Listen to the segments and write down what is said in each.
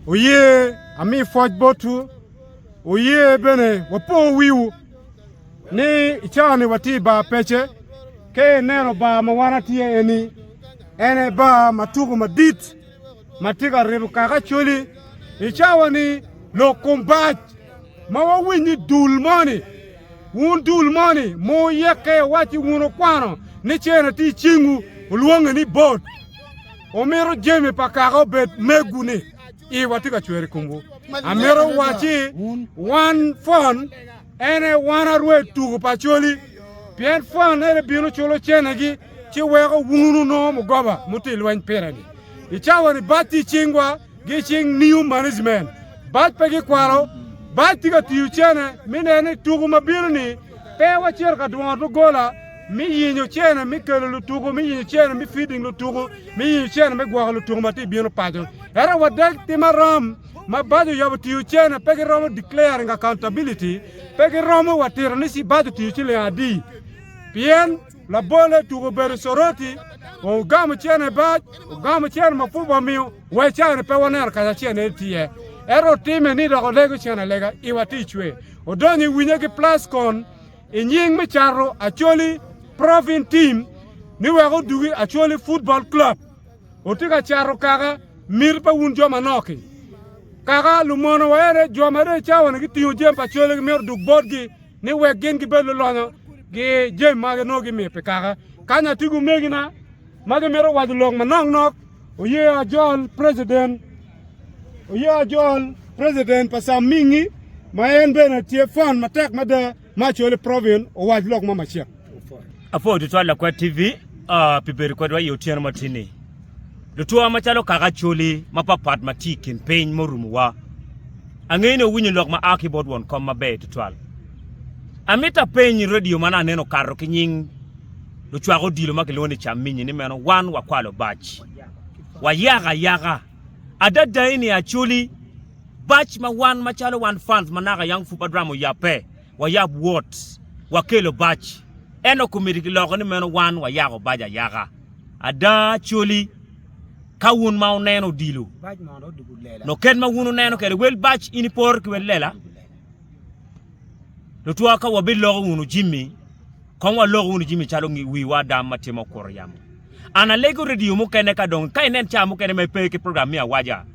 Wuye ami pwoc botwu, wuye bene wapo wiwu, ni i cawa-ni watye i bar pece. Ka ineno bar ma wan watye iye-ni, en aye bar ma tuko madit ma tye ka rito kaka Acholi. I cawa-ni lok kom bac ma wawiny ni dul moni, wun dul moni ma wuyekke iwacci wun okwano ni cerna tye i cingwu, olwonge ni bot. Omito jami pa kaka obed megwu ni iwa tye ka cwer i komwu. Amito waci wan fon ene wan arwe tuku pa coli pien fon ene bino culo cenegi ci weko wunu nongo mugoba muti lweny pire-ni. I cawa ni bac tye i cingwa gi cing new management. Bac pe gikwalo, bac tye ka tiyo cene mi neno ni tuku ma bino ni pe wacito ka dwongo dogola me yenyo cene me kelo lutuku, me yenyo cene me feeding lutuku, me yenyo cene me gwoko lutuku ma tye bino paco. Ento wadeg tim aram ma bajo yabo tiyo cene pe giromo declaring accountability, pe giromo watito ni ci bajo tiyo ciling adi. Pien labole tuku obedo coroti, ogamo cene bac, ogamo cene ma pud wamiyo, wa cani pe waneno kaca acel ne tiye. Ento otime ni dok olego cene alega, iwa ti cwe. Odonyo i winye ki plascon, i nying me cato Acholi Province Team ni wek odugi Acholi Football Club. Otye ka cato kaka miti pa wun jo manok-ki. Kaka lumono wa ene jo ma dong i cawa-ni gitingo jami pa Acholi gimito duk botgi ni wek gin gibed lulonyo gi jami ma nongo gimiyo pi kaka. Kany atye ki omegina ma gimito waco lok manok nok oye ajol president oye ajol president pa Sam Mingi ma en bene tye fan matek mada ma Acholi Provin owac lok ma macek. Apor tutwal Lakwet TV uh, pi bedo kwedwa i otyeno ma tye ni. Lutwa macalo kaka Acholi mapapat ma tye i kin piny murumuwa, angeyo ni owinyo lok ma a ki bot won kom maber tutwal. Amito apeny redio ma nongo aneno okato ki nying lucwak odilo ma kilwongo ni Caminyi ni meno wan wakwalo bac wa yaka ayaka. Adadai ni Acholi, bac ma wan macalo wan fans ma naka Young Fupa Drama oyabbe, wayab wot wakelo bac. Ento komiti kiloko ni meno wan wayako bac ayaka. Ada Acholi, ka wun ma wuneno odilo, nyo kit ma wun wuneno kwede wel bac in ipor ki wel lela, Lutwa, ka wabiloko wunu jami, kong walok wunu jami calo wiwa adam ma timo kuro yamo. An alego redio mukene ka dong ka inen ca mukene ma ipe ki program me awaja,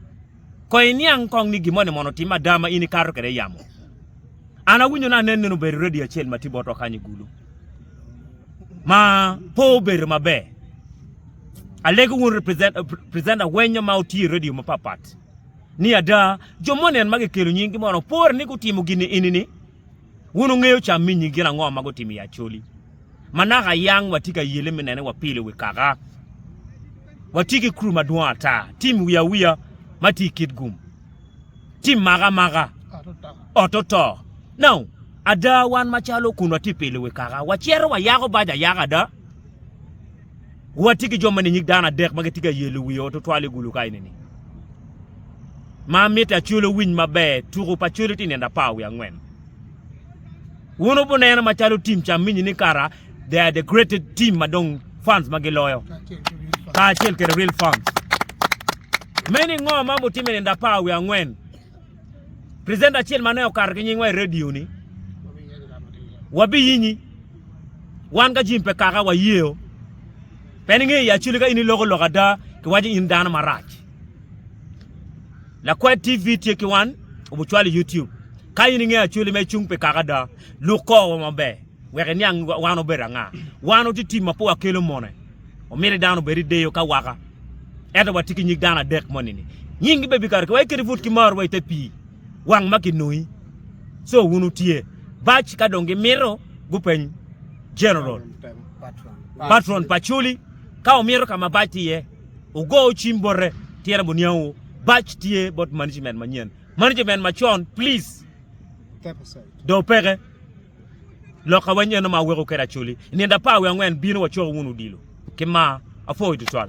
kong iniang kong ni gin moni mono otimme ada ma in ikato kwede yamo. An awinyo ni anen nino obedo redio acel ma tye botwa kany i gulu ma pe obedo maber. Alego wunu presenter wenyo ma otye i redio mapat pat. ni ada jo mo nen ma gikelo nyinggi mono pore ni gutimo gin-ni eni-ni? Wun wungeyo ca minyi gin ango ma gutimo i Acholi? Ma naka yang watye ka yele me nene wapilo i wi kaka. Watye ki kru madwong ata, tim wiya wiya ma tye i kit gum, tim maka maka, oto to. Now, ada wan macalo kun watye pilo i wi kaka, wacito wayako bac ayaka ada? Watye ki jo ma ninyig dano adek ma gitye ka yelo wi ot otwal i gulu kaini ni. Ma mitte Acholi owiny maber, tuku pa Acholi tye i nino apar wiye angwen. Wun wubuneno macalo tim ca minyi ni kara they are the greatest team ma dong fans ma giloyo kacel kede real fans. Meno ingo ma mutimo i nino apar wiye angwen? presenter acel ma ne okato ki nyingwa i radio ni wabiyinyi wan ka jim pe kaka wayeo pe ninge i achuli ka in iloko lok ada kiwaco in dano marac lakwed tv tye ki wan obucwalo i youtube ka in inge achuli ma icung pi kaka ada luk kor wa maber wek iniang wan obedo anga wan watye tim ma pe wakelo mone omiti dano obedi deyo ka waka Ento watye ki nyig dano adek moni-ni, nyinggi bene bikato ki wa, iketi but ki mar wa i te pii wang ma kinoi, co wun wutye bac. Ka dong gimito, gupeny jeneral, patron, pa culi, Ka wumito ka ma bac tye iye, wugo cim bote, tira buniangu bac tye bot management manyen. Management macon, pliz, dong peke. Loka wanyeno ma aweko kede Acholi, nindo apar wiye angwen bino wacoko wunu odilo. Ki mar. Apwogi tutwal.